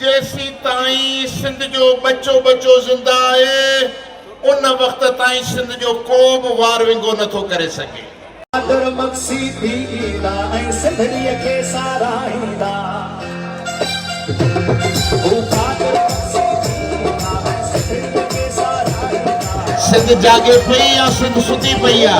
جيسيتائين سنڌ جو ٻچو ٻچو زنده آهي، ان وقت تائين سنڌ جو ڪو به وار ونگو نه ٿو ڪري سگهي. قادر مگسي ٿي ايندا ۽ سنڌڙيء کي ساراهيندا. هو قادر مگسي ٿي ايندا ۽ سنڌڙيء کي ساراهيندا. سنڌ جاڳي پئي يا سنڌ ستي پئي آ.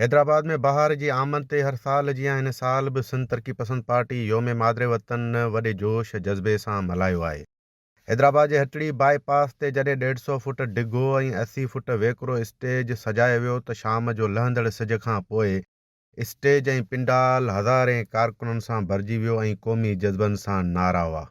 حيدرآباد ۾ بهار جي آمد تي هر سال جيان هن سال به سنڌ ترقي پسند پارٽي يوم مادر وطن وڏي جوش جذبي سان ملهايو آهي. حيدرآباد جي هٽڙي بائي پاس تي جڏهن ڏيڍ سئو فوٽ ڊگهو ۽ اسي فوٽ ويڪرو اسٽيج سجايو ويو ته شام جو لهندڙ سج کان پوء اسٽيج ۽ پنڊال هزارين ڪارڪنن سان ڀرجي ويو ۽ قومي جذبن سان نعرا هئا.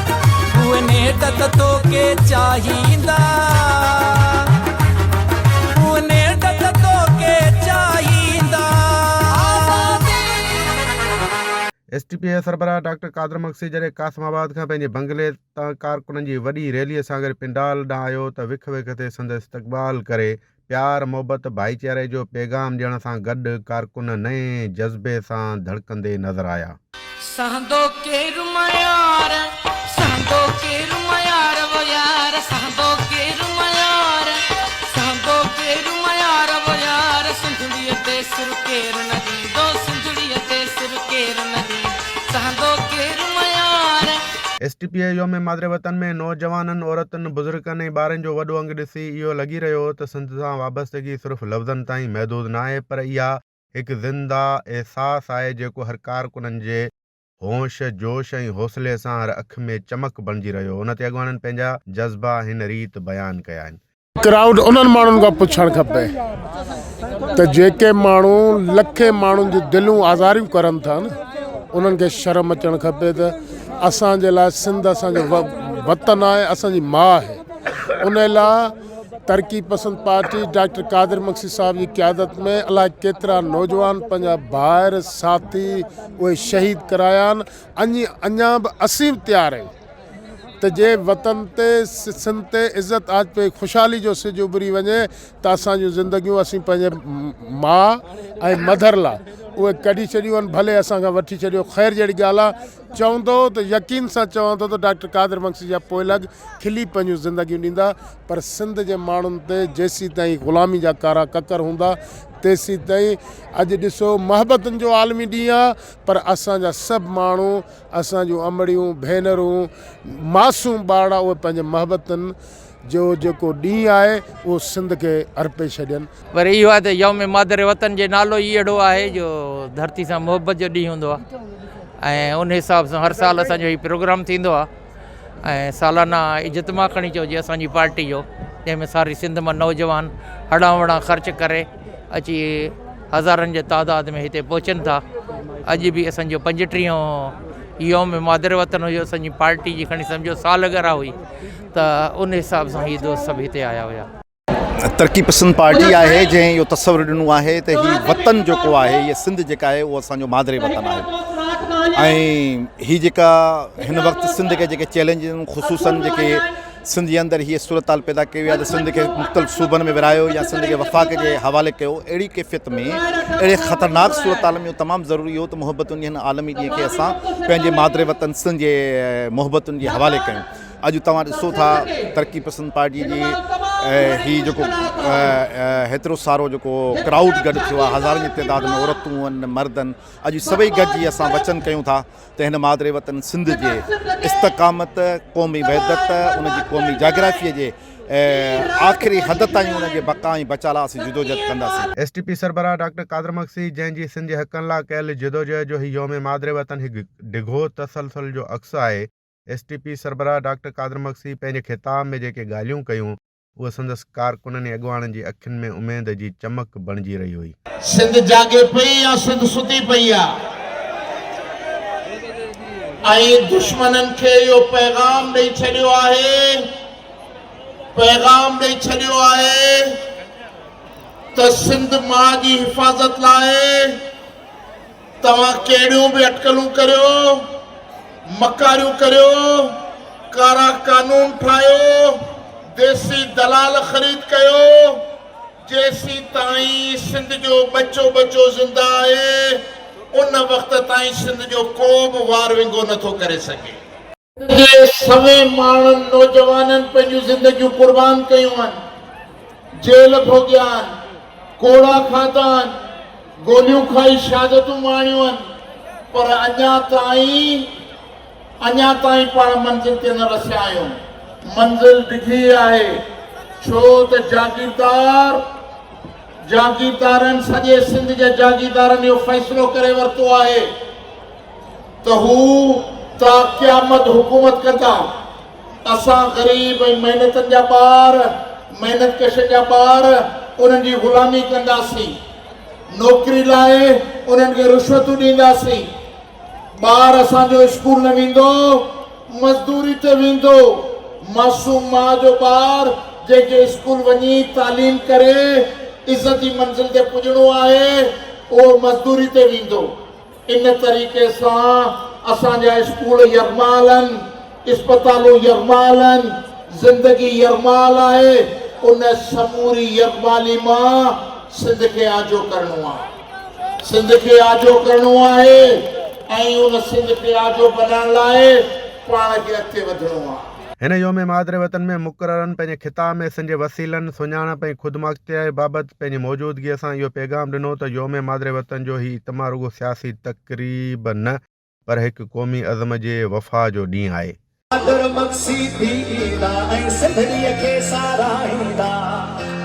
اهي نيٺ ته توکي چاهيندا اهي نيٺ ته توکي چاهيندا. ايس ٽي پي اي سربراهه ڊاڪٽر قادر مگسي جڏهن قاسم آباد کان پنهنجي بنگلي تان ڪارڪنن جي وڏي ريلي سان گڏ پنڊال ڏانهن آيو ته وک وک تي سندس استقبال ڪري پيار محبت ڀائيچاري جو پيغام ڏيڻ سان گڏ ڪارڪن نئين جذبي سان ڌڙڪندي نظر آيا. سهندو ڪير ميار سهندو ڪير ميار و يار سهندو ڪير ميار سهندو ڪير ميار و يار سنڌڙيء تي سر ڪير نه ڏيندو سنڌڙيء تي سر ڪير نه ڏيندو سهندو ڪير ميار. ايس ٽي پي اي يوم مادر وطن ۾ نوجوانن، عورتن، بزرگن ۽ ٻارن جو وڏو انگ ڏسي، اهو لڳي رهيو هو ته سنڌ سان وابستگي صرف لفظن تائين محدود ناهي پر اها هڪ زنده احساس آهي جيڪو هر ڪارڪنن جي هوش، جوش ۽ حوصلي سان هر اک ۾ چمڪ بڻجي رهيو هو. ان تي اڳواڻن پنهنجا جذبا هن ريت بيان ڪيا آهن. ڪرائوڊ انهن ماڻهن کان پڇڻ کپي ته جيڪي ماڻهو لکين ماڻهن جون دلون آزاريون ڪرن ٿا نه انهن کي شرم اچڻ کپي ته اسان جي لاء سنڌ اسان جو وطن آهي اسان جي ماء آهي. ان لا ترقي پسند پارٽي ڊاڪٽر قادر مگسي صاحب جي قيادت ۾ الاء ڪيترا نوجوان پنهنجا ڀائر ساٿي اهي شهيد ڪرايا آهن اڃ اڃا به اسين به تيار آهيون ته جي وطن تي سنڌ تي عزت آجپي خوشحالي جو سج اڀري وڃي ته اسان جون زندگيون اسين پنهنجي ماء ۽ مڌر لا اهي ڪڍي ڇڏيون آهن ڀلي اسان کان وٺي ڇڏيو خير جهڙي ڳالهه آهي چون ٿو ته يقين سان چوان ٿو ته ڊاڪٽر قادر مگسي جا پوئلڳ کلي پنهنجون زندگيون ڏيندا پر سنڌ جي ماڻهن تي جيسيتائين غلامي جا ڪارا ڪڪر هوندا تيسيتائين اڄ ڏسو محبتن جو عالمي ڏينهن آ پر اسان جا سڀ ماڻهو اسان جون امڙيون ڀينرون معصوم ٻارڙا اهي پنهنجي محبتن جو جيڪو ڏينهن آهي اهو سنڌ کي ارپي ڇڏين. پر اهو آهي ته يوم مادر وطن جي نالو ئي اهڙو آهي جو ڌرتي سان محبت جو ڏينهن هوندو آهي ۽ ان حساب سان هر سال اسان جو هي پروگرام ٿيندو آهي ۽ سالانه اجتماع کڻي چئجي اسان جي پارٽي جو جنهن ۾ ساري سنڌ مان نوجوان اڙان وڙان خرچ ڪري اچي هزارن جي تعداد ۾ هتي پهچن ٿا اڄ به اسان جو پنجٽيهون يوم مادر وطن هيو اسان جي پارٽي جي کڻي سمجهو سالگرا هئي ته ان حساب سان هي دوست سڀ هتي آيا هيا. ترقي پسند پارٽي آهي جنهن اهو تصور ڏنو آهي ته هي وطن جيڪو آهي هيء سنڌ جيڪا آهي اهو اسان جو مادري وطن آهي ۽ هي جيڪا هن وقت سنڌ کي جيڪي چئلينج خصوصن جيڪي سنڌ جي اندر هيء صورتحال پيدا ڪئي وئي آهي ته سنڌ کي مختلف صوبن ۾ ورهايو يا سنڌ کي وفاق جي حوالي ڪيو اهڙي ڪيفيت ۾ اهڙي خطرناڪ صورتحال ۾ اهو تمام ضروري هو ته محبتن جي هن عالمي ڏينهن کي اسان پنهنجي مادري وطن سنڌ جي محبتن جي حوالي ڪيون اڄ توهان ڏسو ٿا ترقي پسند پارٽي جي هي جيڪو هيترو سارو جيڪو ڪرائوڊ گڏ ٿيو آهي هزارن جي تعداد ۾ عورتون آهن مرد آهن اڄ سڀئي گڏجي اسان وچن ڪيون ٿا ته هن مادري وطن سنڌ جي استقامت قومي وحدت ان جي قومي جاگرافيء جي آخري حد تائين ان جي بقا ۽ بچا لاء اسين جدوجهد ڪنداسين. ايس ٽي پي سربراهه ڊاڪٽر قادر مگسي جنهن جي سنڌ جي حقن لاء ڪيل جدوجهد جو هي يوم مادري وطن هڪ ڊگهو تسلسل جو عڪس آهي، ايس ٽي پي سربراهه ڊاڪٽر قادر مگسي پنهنجي خطاب ۾ جيڪي ڳالهيون ڪيون اهو سندس ڪارڪنن ۽ اڳواڻن جي اکين ۾ اميد جي چمڪ بڻجي رهي هئي. سنڌ جاڳي پئي يا سنڌ ستي پئي آ ۽ دشمنن کي اهو پيغام ڏئي ڇڏيو آهي پيغام ڏئي ڇڏيو آهي ته سنڌ ماء جي حفاظت لاء توهان ڪهڙيون به اٽڪلون ڪريو، مڪاريون ڪريو، ڪارا قانون ٺاهيو، ديسي دلال خريد ڪيو، جيسين تائين سنڌ جو ٻچو ٻچو زنده آهي، ان وقت تائين سنڌ جو ڪو به وار ونگو نٿو ڪري سگهي. جي سوين ماڻهن نوجوانن پنهنجون زندگيون قربان ڪيون آهن، جيل ڀوڳيا آهن، ڪوڙا کاڌا آهن، گوليون کائي شهادتون ماڻيون آهن پر اڃا تائين اڃا تائين پاڻ منزل تي نه رسيا آهيون. منزل ڊگهي آهي ڇو ته جاگيردار جاگيردارن سڄي سنڌ جي جاگيردارن اهو فيصلو ڪري ورتو آهي. ته هو تا قيامت حڪومت ڪندا. اسان غريب ۽ محنتن جا ٻار، محنت ڪشن جا ٻار انهن جي غلامي ڪنداسين. نوڪري لاء انهن کي رشوتون ڏينداسين. ٻار اسان جو اسڪول نه ويندو، مزدوري تي ويندو. معصوم ماء جو ٻار جنهن کي اسڪول وڃي تعليم ڪري عزت جي منزل تي پڄڻو آهي، اهو مزدوري تي ويندو. ان طريقي سان اسان جا اسڪول يرمال آهن، اسپتالون يرمال آهن، زندگي يرمال آهي، ان سموري يرمالي مان سنڌ کي آجو ڪرڻو آهي، سنڌ کي آجو ڪرڻو آهي ۽ ان سنڌ کي آجو بنائڻ لاء پاڻ کي اڳتي وڌڻو آهي. هن يوم مادر وطن ۾ مقررن پنهنجي خطاب ۾ سنڌ جي وسيلن، سڃاڻپ ۽ خودمختياري بابت پنهنجي موجودگيء سان اهو پيغام ڏنو ته يوم مادر وطن جو هي اجتماع رڳو سياسي تقريب نه پر هڪ قومي عزم جي وفا جو ڏينهن آهي. مادر مگسي ٿي ايندا ۽ سنڌڙيء کي ساراهيندا.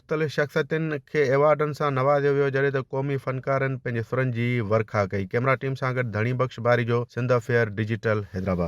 مختلف شخصيتن کي ايوارڊن سان نوازيو ويو جڏهن ته قومي فنڪارن پنهنجي سرن جي ورکا ڪئي. ڪيمرا ٽيم سان گڏ ڌڻي بخش باري جو سنڌ افيئر ڊجيٽل حيدرآباد.